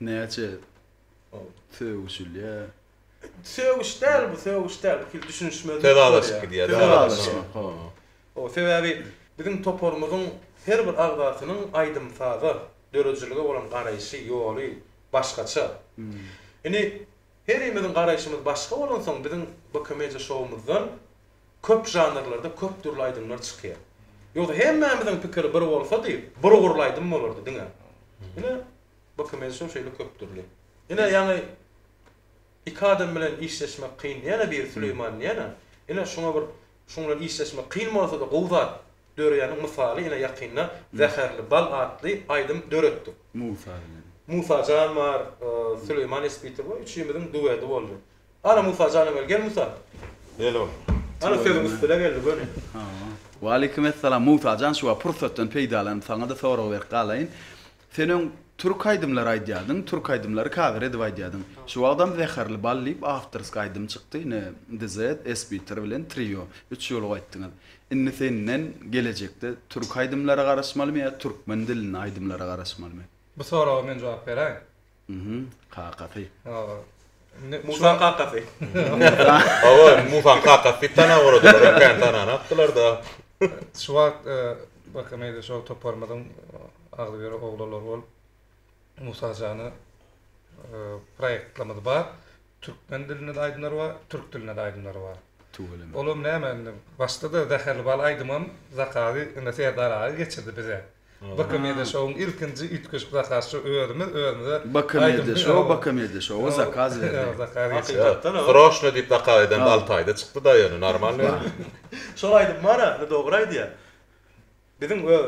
Näçe sögüşilýär? Sögüş däl bu, sögüş däl. Bu hili düşünişmezlik bolýar. Söz alyşyp gidýär. Söz alyşmak, ho. Ho, sebäbi biziň toparymyzyň her bir agzasynyň aýdym-saza, döredijilige bolan garaýşy, ýoly başgaça. Indi herimiziň garaýşymyz başga bolansoň, biziň BKMedia şoumyzdan köp žanrlarda köp dürli aýdymlar çykýar. Ýogsa hemmämiziň pikiri bir bolsady, bir ugurly aýdym bolardy diňe. Ine, Bu kim edişiň şeýle köp dürli. Ine ýaňy iki adam bilen işleşmek kyn diýýän-ä biri Süleýman diýýän-ä. Ine şuňa bir şuň bilen işleşmek kyn bolsa-da gowy zat döreýäniň mysaly ine ýakynda Zäherli bal atly aýdym döretdik. Musa bilen. Musa jan bar, Süleýman Espitow bar, üçimiziň duedi boldy. Ana Musa janam gel, gel Musa. Gel ogul. Ana sözüň üstüne geldi göni. Hawa. Waleýkim essalam Musa jan şu wagt pursatdan peýdalanyp saňa-da sorag berip galaýyn. Sen öň türk aýdymlary aýdýardyň, türk aýdymlary kawer edip aýdýardyň. Şu wagtam Zäherli bal diýip awtorski aýdym çykdy, ine DZ, Sbitter bilen Trio, üç ýolup aýtdyňyz. Indi senden gelejekde türk aýdymlara garaşmalymy ýa türkmen dilinde aýdymlara garaşmalymy? Bu soraga men jogap beräýin. Mhm, kakasy. Hawa. Indi Musaň kakasy. Hawa, Musaň kakasy diýip tanap olardylar, ýöne kän tanany atdylar-da. Şu wagt Baky meýli şo toparymyzyň agzybir oglanlary bolup, Musa jana proýektlerimiz bar. Türkmen dilinde-de aýdymlar bar, türk dilinde-de aýdymlar bar. Tüweleme. Olam näme indi, başda-da Zäherli bal aýdymam zakazy indi Serdar aga geçirdi bize. Bk media şowuň ilkinji üýtgeşik zakazçy özümiz özümize Bk media show Bk media showa zakaz berdi. Hakykatdan agam. Sroşno diýip zakaz edende alty aýda çykdyda ýöne normalnyý. Şol aýdym bar aslynda dogry aýdýar. Biziň öz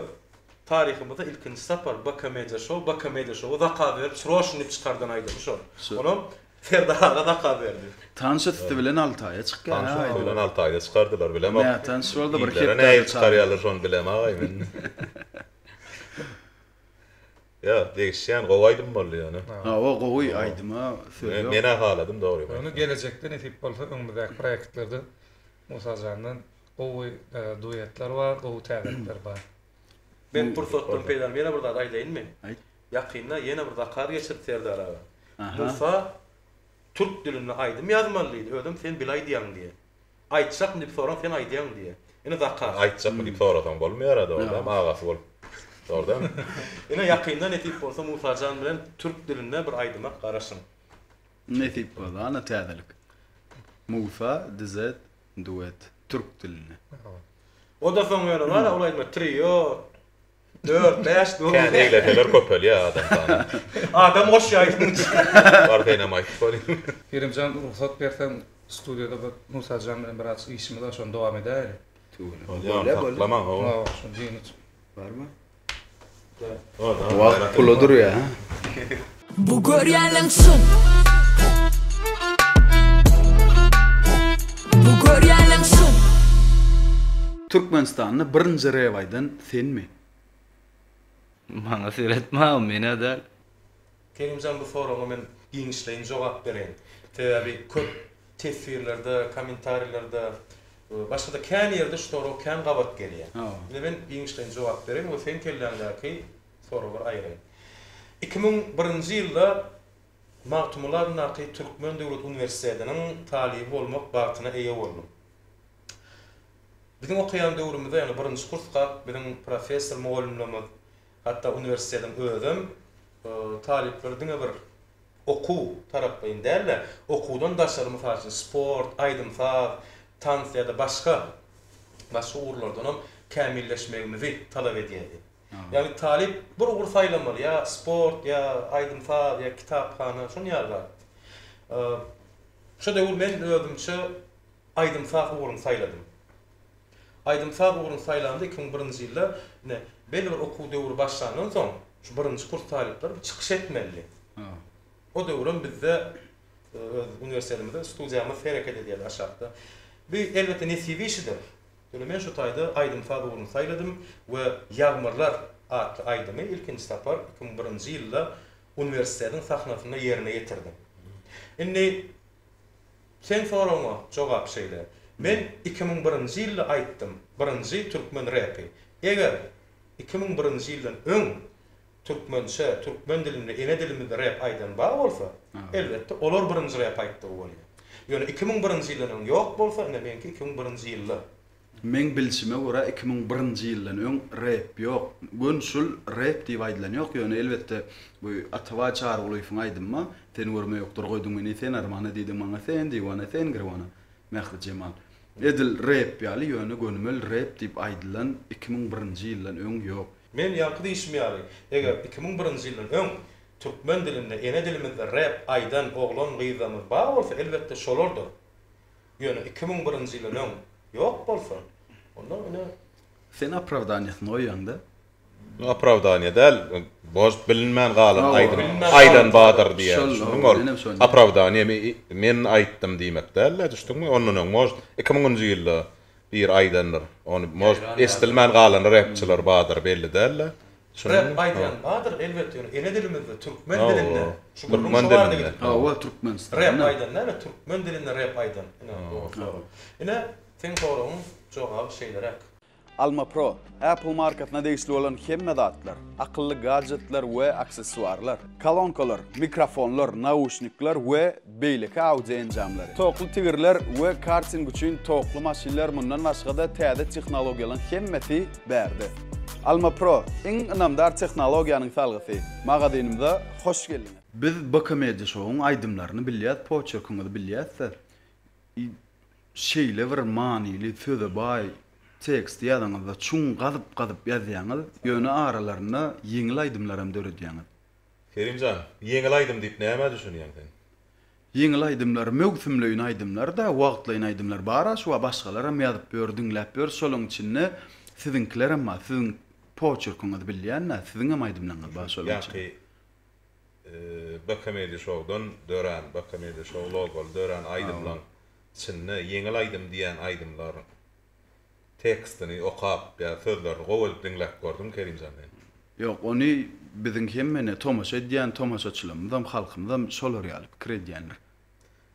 taryhymyzda ilkinji sapar Bk media show Bk media showa zakaz berip sroşno diýip çykardan aýdymy şol. Onam Serdar aga zakaz berdi. Tanyş üsti bilen alty aýa çykýar. Tanyş üsti bilen alty aýda çykardylar bilemok. Nätanyş boldy bir hepdä. Ilere nähili çykarýarlar şony bilem agaý men. Ýok degişýän gowy aýdym boldy ýöne. Hawa gowy aýdyma söz ýok. Menä haladym dogrymy aýtsam. Ýöne gelejekde nesip bolsa öňümizdäki proýektlerde Musa jandan gowy duetler bar, gowy täzelikler bar. Men pursatdan peýdalanyp ýene bir zat aýdaýynmy? Aýt. Ýakynda ýene bir zakaz geçirdi Serdar aga. Musa türk dilinde aýdym ýazmaly diýdi, özem sen bil aýdýaň diýýä. Aýtjakmy diýip soraň sen aýdýaň diýýä. Ine zakaz. Aýtjakmy diýip sorasaň bolmaýara dogrudanam agasy bolup. Dogrudanam. Ine ýakynda nesip bolsa Musajan bilen türk dilinde bir aýdyma garaşyň. Nesip bolsa ana täzelik. Musa DZ duet türk dilinde. Oda soň ýöne bar ol aýdyma trio, Dört, bäş dogry. Kän egleseler köpelýär adam sany. Adam goşýar şonuň üçin. Bar senem aýdyp goý. Kerimjan rugsat berseň studiýada bir Musajan bilen biraz işimiz bar şony dowam edäýeli. Bolýa saklama hawa. Hawa şuny diýen üçin. Barmy? Wagt pula durýa ha. Bu görýäniň çyn. Bu görýäniň çyn. Türkmenistanda birinji rep aýdan senmi? Maňa seretme o menä däl. Kerimjan bu soragyňa men giňişleýin jogap bereýin. Sebäbi köp teswirlerde, kommentariýlerde, başgada kän ýerde şu sorag kän gabat gelýär. Indi men giňişleýin jogap bereýin we seň kelläňdäki Soragy bir aýry. Iki müň birinji ýylda Magtymguly adyndaky Türkmen döwlet uniwersitetiniň talyby bolmak bagtyna eýe boldum. Biziň okaýan döwrümizde, ýagny birinji kursga biziň professor mugallymlarymyz, hatda uniwersitetiň özem talyplary diňe bir okuw taraplaýyn däl-de, okuwdan daşary, mysal üçin, sport, aýdym-saz, tans ýa-da başga, başga ugurlardanam kämilleşmegimizi talap edýärdi. Ýagny talyp bir ugur saýlamaly, ýa sport, ýa aýdym-saz, ýa kitaphana, şunuň ýaly zat. Şu döwür men özümçe aýdym-saz ugruny saýladym. Aýdym-saz ugruny saýlamda iki müň birinji ýylda ine belli bir okuw döwri başlandan soň şu birinji kurs talyplary bir çykyş etmelidi. O döwürem bizde öz uniwersitetimizde studiýamyz hereket edýärdi aşakda. Bu elbetde nesip işidir. Ine men şu taýda aýdym-saz ugruny saýladym we Ýagmyrlar atly aýdymy ilkinji sapar iki müň birinji ýylda uniwersitetiň sahnasynda ýerine ýetirdim. Indi seň soragyňa jogap şeýle, men iki müň birinji ýylda aýtdym, birinji türkmen repi. Eger iki müň birinji ýyldan öň Türkmençe, türkmen dilinde ene dilimizde rep aýdan bar bolsa, elbetde, olar birinji rep aýtdygy bolýar. Ýöne iki müň birinji ýyldan öň ýok bolsa, ine, meňki iki müň birinji ýylda. Meň bilşime görä, iki müň birinji ýyldan öň rep ýok. Gön şul rep diýip aýdylan ýok. Ýöne, elbetde, bu Atabaý Çarygulyýewiň aýdymy-a, Sen görme ýokdur goýduň meni sen armana, diýdiň maňa sen diwana, sen girwana, Mährijemal. Edil rep ýaly, ýöne gönümel rep diýip aýdylan iki müň birinji ýyldan öň ýok. Men ýaňky diýşim ýaly, eger iki müň birinji ýyldan öň türkmen dilinde, ene dilimizde rep aýdan oglan-gyzlarymyz bar bolsa, elbetde şolardyr. Ýöne iki müň birinji ýyldan öň ýok bolsa, onda ine. Sen opravdaniýasyny goýýaň-da. Opravdaniýa däl, boş bilinmän galan aýdym aýdan badyr diýýän, düşündiňmi? Ol opravdaniýa men aýtdym diýmek däl-de, düşdüňmi? Ondan öň, może, iki müňünji ýylda. Biri aýdandyr. Ony может eşdilmän galan repçiler badyr belli dälde. Rep aýdýan badyr elbetde ýöne ene dilimizde türkmen dilinde şu gürrüň şo barada gidip dur. Hawa türkmenistanda. Rep aýdan näme türkmen dilinde rep aýdan ine dogry sorag. Ine seň soragyň jogaby şeýleräk. Almapro Apple markasyna degişli bolan hemme zatlar, akylly gadjetler we aksessuarlar, kolonkalar, mikrofonlar, nauşnikler we beýleki audio enjamlary, tokly tigirler we karting üçin tokly maşynlar mundan başga-da täze tehnologiýalaň hemmesi bärde. Alma Pro, iň ynamdar tehnologiýanyň salgysy! Magazynymyza hoş geldiňiz! Biz BK Media Show-yň aýdymlaryny bilýäs, poçerkiňizi bilýäs-de. Şeýle bir manyly söze baý teksti ýazyňyzda çuň gazyp-gazyp ýazýaňyz, ýöne aralarynda ýeňil aýdymlaram döredýäňiz. Kerim jan, ýeňil aýdym diýip nämä düşünýäň sen? Ýeňil aýdymlar möwsümleýin aýdymlar-da, wagtlaýyn aýdymlar bar-a şu wagt başgalaram ýazyp ýör, diňläp ýörüs şolaryň içinde siziňkilerem bar, siziň poçerkiňizi bilýän-dä, siziňem aýdymlaryňyz bar şolaryň içinde. Ýaňky B Comedy Show-dan dörän, B Comedy Show logoly dörän aýdymlaň içinde ýeňil aýdym diýen aýdymlaryň tekstini okap ýa sözlerini gowy edip diňläp gördüňmi Kerimjan men? Ýok, ony biziň hemmene tomaşa edýän tomaşaçylarymyzam, halkymyzam şolar ýaly pikir edýänler.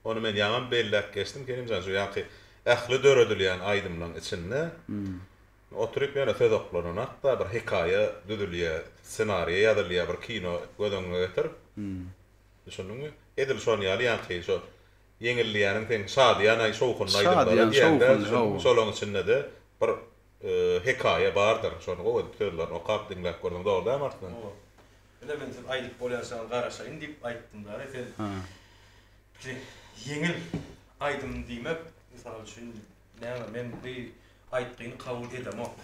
Ony men ýaňam belläp geçdim Kerimjan, şu ýanky ähli döredilýän aýdymlaň içinde Oturyp ýöne söz oklanynak-da bir hekaýa düzülýä, ssenariýa ýazylýa, bir kino göz öňüňe getir. Düşündiňmi? Edil şon ýaly ýaňky şo ýeňilýäniň seň şadyýan-aý şowhunly aýdymlary diýäňdä, düşündiňmi? Şolaň içinde-de bir hekaýa bardyr. Şony gowy edip sözlerini okap diňläp görseň dogry dälmi artdan? Dogry. Ine men siz aýdyp bolýançaňyz garaşaýyn diýip aýtdym däl-e, sen pikiri ýeňil aýdym diýmek, mysal üçin, Näme men bu aýtgyny kabul edemok.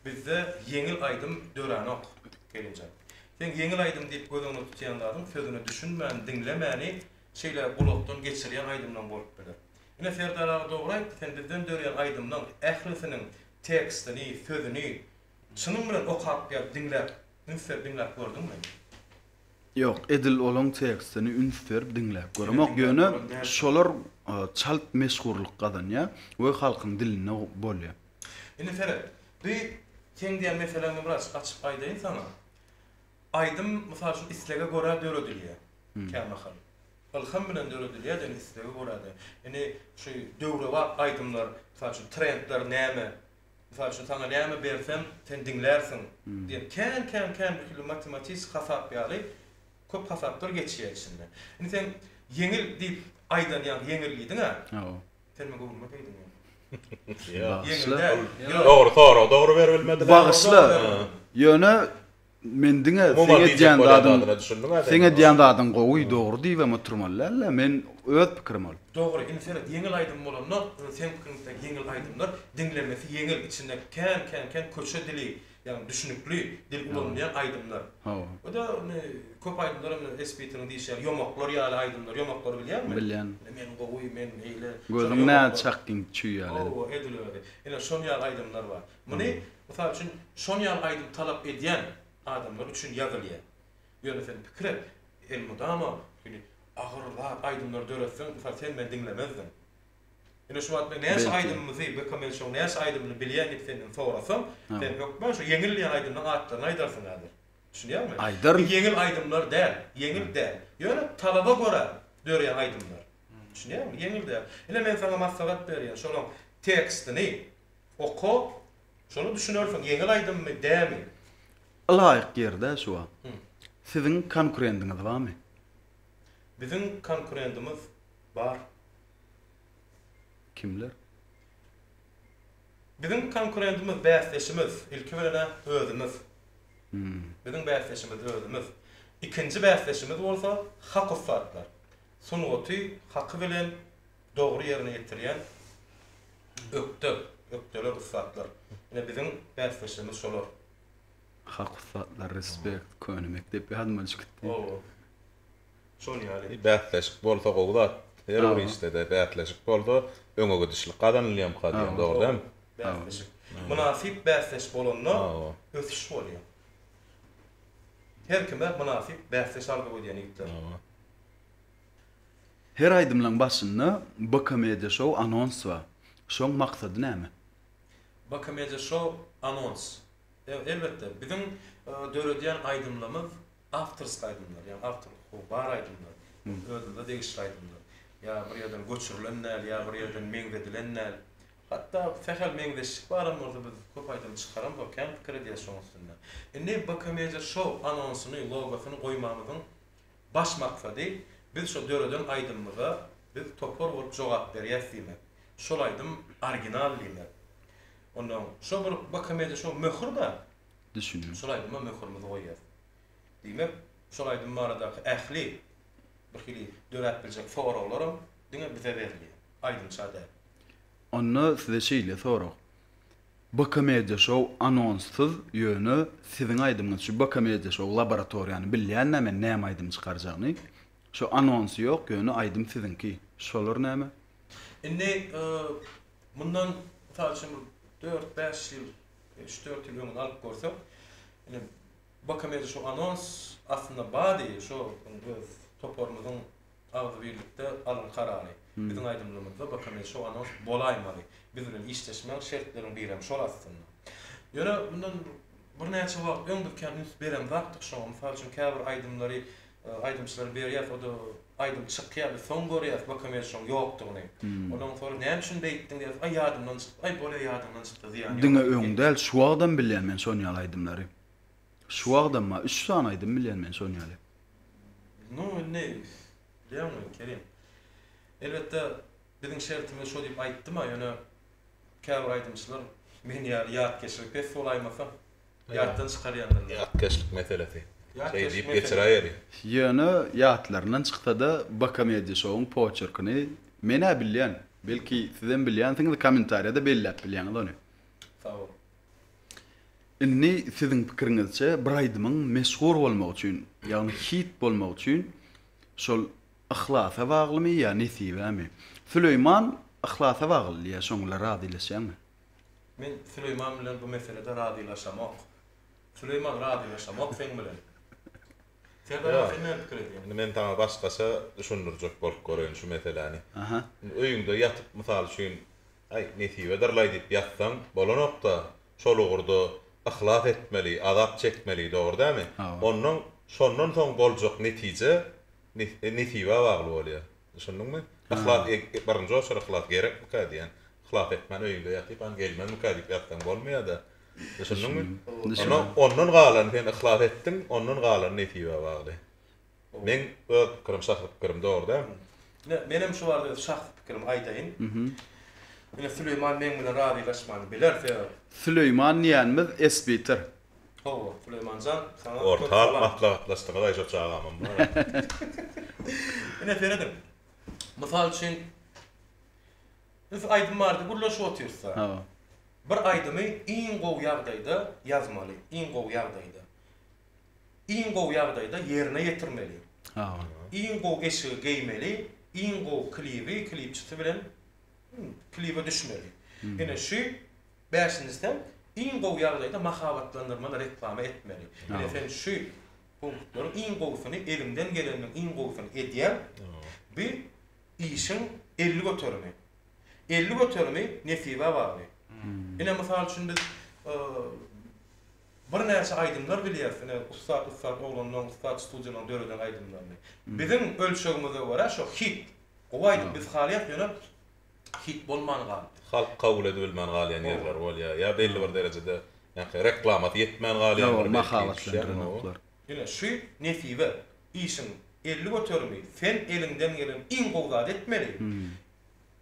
Bizde ýeňil aýdym döränok gelinjek. Seň ýeňil aýdym diýip göz öňüne tutýan zadyň sözüne düşünmän, diňlemäni şeýle gulakdan geçirýän aýdymlaň bolup biler. Ine Serdar aga dogry aýtdy, sen bizden dörýän aýdymlaň ählisiniň tekstini, sözüni çynyň bilen okap gelip diňläp, üns berip diňläp gördüňmi? Ýok, edil olaň tekstini üns berip diňläp göremok, ýöne şolar çalt meşhurlyk gazanýar we halkyň dilinde bolýar. Indi seret, bi seň diýen meseleň Ymraç, açyk aýdaýyn saňa. Aýdym, mysal üçin, islege görä döredilýär kämahal. Ylham bilen döredilýär-de, indi islege görä-de. Indi şu döwrebap aýdymlar, mysal üçin, trendler näme, Mysal üçin, saňa näme bersem, sen diňlärsiň diýen kän-kän kän bir hili matematisik hasap ýaly köp hasaplar geçýär içinden. Indi sen ýeňil diýip aýdan ýaňky ýeňil diýdiň-ä. Hawa. Sen muňa göwnüme diýdiň ýaňky. Ýa. Ýeňil däl. Dogry sorag dogry berbilmediler. Bagyşla. Ýöne Men diňe seň edýän zadyň seň edýän zadyň gowy dogry diýibem oturmaly dälda men öz pikirim ol. Dogry indi seret ýeňil aýdym bolanda indi seň pikiriňçe sen ýeňil aýdymlar diňlemesi ýeňil içindäki kän kän kän köçe dili ýagny düşnükli dil ulanylýan aýdymlar oda indi köp aýdymlar indi esbitiniň diýşi ýaly ýomaklar ýaly aýdymlar ýomaklary bilýäňmi bilýän men gowy men beýle gözüň nädip çakgyn çüý ýaly edip owo edil özi ine şol ýaly aýdymlar bar Muny, mysal üçin, şon ýaly aýdym talap edýän adamlar üçin ýazylýar. Ýöne sen pikir et, elmydama şeýle agyr zat aýdymlar döretseň, mysal, sen meni diňlemezdiň. Ine şu wagt men näçe aýdymymyzy, Bechamel Show näçe aýdymyny bilýän diýip senden sorasam, sen hökman şu ýeňilýän aýdymlaryň atlaryny aýdarsyň häzir. Düşünýäňmi? Aýdaryn. Bu ýeňil aýdymlar däl, ýeňil däl. Ýöne talaba görä döreýän aýdymlar. Düşünýäňmi? Ýeňil däl. Ine men saňa maslahat berýän, şolaň tekstini Oka, şony düşünersiň, ýeňil aýdymmy, dämi? Ylaýyk ýerde şu wagt Siziň konkurendiňiz barmy? Biziň konkurendimiz bar. Kimler? Biziň konkurendimiz, bäsdeşimiz, ilki bilen-ä özümiz. Biziň bäsdeşimiz özümiz. Ikinji bäsdeşimiz bolsa hak ussatlar. Sungaty haky bilen dogry ýerine ýetirýän ökde, ökdeler, ussatlar. Ine biziň bäsdeşlerimiz şolar. Hak ussatlar respect köne mekdep ýadyma düşüp gitdi. Hawa. Şol ýaly. Bäsleşik bolsa gowy zat. Her bir işdede bäsleşik bolsa öňe gidişlik gazanylýamka diýen dogry dämi? Bäsleşik. Mynasyp bäsdeş bolanda ösüş bolýar. Her kime mynasyp bäsdeş arzuw edýän ýigitler. Her aýdymlaň başynda Bkmedia show anons bar. Şoň maksady näme? Bkmedia show anons. Elbetde, biziň döredýän aýdymlarymyz awtorsk aýdymlar, ýagny awtor hukugy bar aýdymlar, özümize degişli aýdymlar. Ýa bir ýerden göçürilen däl, ýa bir ýerden meňzedilen däl. Hatda sähel meňzeşlik baram bolsa biz köp aýdym çykaramzok, kän pikir edýäs şoň üstünde. Indi Bkmedia show anonsyny, logosyny goýmamyzyň Baş maksady biz şo döreden aýdymymyza biz topar bolup jogap berýäs diýmek. Şol aýdym original diýmek. Onda şo bir bkmde şo möhür bar. Düşündim. Şol aýdyma möhürimizi goýýas. Diýmek, şol aýdym baradaky ähli bir hili döräp biljek soraglaram diňe bize berilýär. Aýdymça däl. Onda size şeýle sorag. Bkomediýa şou anonssyz ýöne siziň aýdymyňyz şu bkomediýa şou laboratoriýany bilýänmä men näme aýdym çykarjagyny şo anonsy ýok ýöne aýdym siziňki şolar näme. Indi mundan mysal üçin bir dört bäş ýyl üç dört ýyl öňüni alyp görseň indi bkomediýa şou anons aslynda bady şo öz toparymyzyň Agzybirlikde alyň karary. Biziň aýdymlarymyzda bir hem şo anons bolaýmaly. Biz bilen işleşmäň, şertleriň birem şol aslynda. Ýöne mundan birnäçe wagt öň biz kän üns beren zatdyk şoňa. Mysal üçin käbir aýdymlary aýdymçylara berýäs, o-da aýdym çykýar, biz soň görýäs Bokomel şoň ýokdugyny. Ondan soň näme üçin beýtdiň diýýäs, aý ýadymdan çykdy, aý bolýa ýadyňdan çykdy zyýany ýok. Diňe öň däl, şu wagtam bilýän men şony ýaly aýdymlary. Şu wagt emma üç sany aýdym bilýän men şon ýaly. Nu indi bilýäňmi Kerim. Elbetde biziň şertimiz şo diýip aýtdym-a ýöne käbir aýdymçylar men ýaly ýatkeşligi pes bolaýmasa ýatdan çykarýandyrlar. Ýatkeşlik meselesi. Şeý diýip geçiräýeli. Ýöne ýatlaryndan çyksada Bakomediýa şowuň poçerkini men-ä bilýän. Belki sizem bilýänsiňiz kommentariýada belläp bilýäňiz ony. Sag boluň. Indi siziň pikiriňizçe bir aýdymyň meşhur bolmagy üçin, ýagny hit bolmagy üçin şol yhlasa baglymy ýa nesibämi? Süleýman yhlasa bagly diýýär, şoň bilen razylaşýaňmy? Men Süleýman bilen bu meselede razylaşamok. Süleýman razylaşamok seň bilen. Serdar aga sen näme pikir edýäň? Indi men saňa başgaça düşündirjek bolup göreýin şu meseläni. Indi öýüňde ýatyp mysal üçin Aý, nesibedirlaý diýip ýatsaň bolanok-da, şol ugurda yhlas etmeli, azap çekmeli, dogry dämi? Onnoň şondan soň boljak netije nesibe bagly bolýar. Düşündiňmi? Yhlas e, birinji oçur yhlas gerekmikä diýen. Yhlas etmän öýüňde ýatyp, han gelmezmikä diýip ýatsaň bolmaýada. Düşündiňmi? Düşündim. Onda ondan galany sen yhlas etdiň, ondan galany nesibä bagly. Meň öz pikirim, şahsy pikirim, dogry däl. Ine, menem şu barada öz şahsy pikirimi aýdaýyn. Ine, Süleýman meň bilen razylaşman biler, sebäbi. Süleýman diýenimiz esbitir. Sag bol, Süleýman jan, saňa köp Orta alyp maslahatlaşdyňyz-aý şo çagamam bar-a. Ine serediň. Mysal üçin, biz aýdym barada gürleşip otyrys-da. Hawa. Bir aýdymy iň gowy ýagdaýda ýazmaly, iň gowy ýagdaýda. Iň gowy ýagdaýda ýerine ýetirmeli. Hawa. Iň gowy eşigi geýmeli, iň gowy klibi, klipçisi bilen klibe düşmeli. Ine şu Bäşinjisi hem iň gowy ýagdaýda mahabatlandyrmaly reklama etmeli. Ine sen şu punktlaryň iň gowusyny eliňden geleniniň iň gowusyny edýäň. Bu işiň elli göterimi. Elli göterimi nesibä bagly. Ine mysal üçin biz birnäçe aýdymlar bilýäris. Ine ussat ussat oglanlaryň ussat studiýalaryň döreden aýdymlaryny. Biziň ölçegimize görä şo hit. Gowy aýdym biz halýas ýöne hit bolman galyp. Halk kabul edibilmän galýan ýerler bolýar. Ýa belli bir derejede ýa-ha reklamasy ýetmän galýandyr belki düşýäňmi? Ine şu nesibe işiň elli göterimi sen eliňden gelen iň gowy zady etmeli.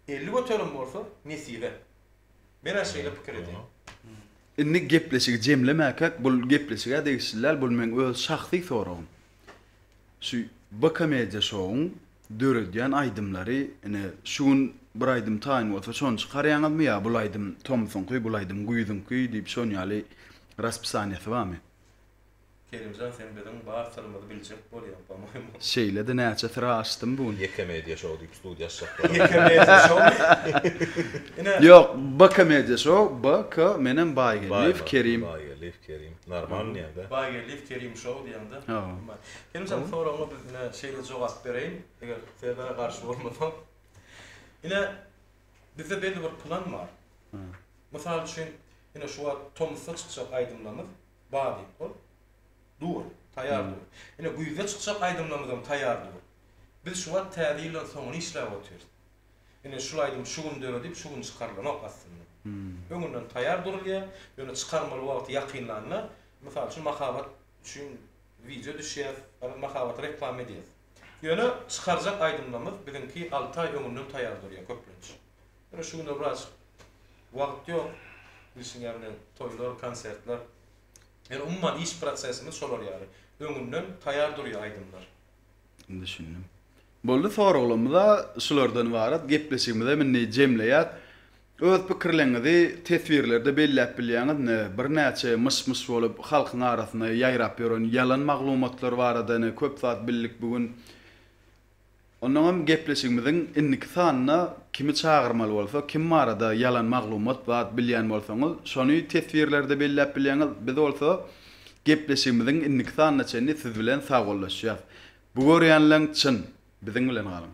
Elli göterim bolsa nesibe. Menä şeýle pikir edýän. Indi gepleşigi jemlemäkäk bul gepleşige degişli däl bul meň öz şahsy soragym. Şu B komediýa şowuň döredýän aýdymlary ine şu gün bir aýdym taýyn bolsa şony çykarýaňyzmy ýa bul aýdym tomsuňky bul aýdym güýzüňki diýip şon ýaly raspisaniýasy barmy? Kerimjan sen biziň bar syrymyzy biljek bolýaň pomoýmu. Şeýlede näçe syra açdym bu gün. Ýekemedia şou diýip studiýa açjak bolar. Ýekemedia şowmy? Ýok B komediýa şou B K menem Baýgeldiýew Kerim. Normal nirde? Bager lift kerim show diýende. Kerimjan soragyňa biz ine şeýle jogap bereýin, eger Serdara garşy bolmasaň. Ine bizde belli bir plan bar. Mysal üçin ine şu wagt tomusda çykjak aýdymlarymyz Badyň ol dur, taýýar dur. Ine güýzde çykjak aýdymlarymyzam taýýar dur. Biz şu wagt Täze ýyldan soňuny işläp otyrys. Ine, şul aýdym şu gün döredip, şu gün çykarylanok aslynda. Öňünden taýýar durulýar, ýöne çykarmaly wagty ýakynlanda, mysal üçin, mahabat üçin wideo düşýär, ýa-da mahabata reklama edýäs. Ýöne çykarjak aýdymlarymyz biziňki alty aý öňünden taýýar durýar köplenç. Ýöne şu günler biraz wagt ýok, bilşiň ýaly, toýlar, konsertler. Ýöne umuman iş prosesimiz şolar ýaly, öňünden taýýar durýar aýdymlar. Düşündim. Boldy, soraglarymyz-a şulardan ybarat, gepleşigimizem indi jemleýäs. Öz pikirleriňizi teswirlerde belläp bilýäňiz indi. Birnäçe myş-myş bolup halkyň arasynda ýaýrap ýören ýalan maglumatlar barada indi köp zat bildik bu gün. Onnoň hem gepleşigimiziň indiki sanynda kimi çagyrmaly bolsa, kim barada ýalan maglumat zat bilýän bolsaňyz, şony teswirlerde belläp bilýäňiz. Biz bolsa Gepleşigimiziň indiki sanyna çenli siz bilen sagbollaşýas. Bu görýänleň çyn. Biziň bilen galyň.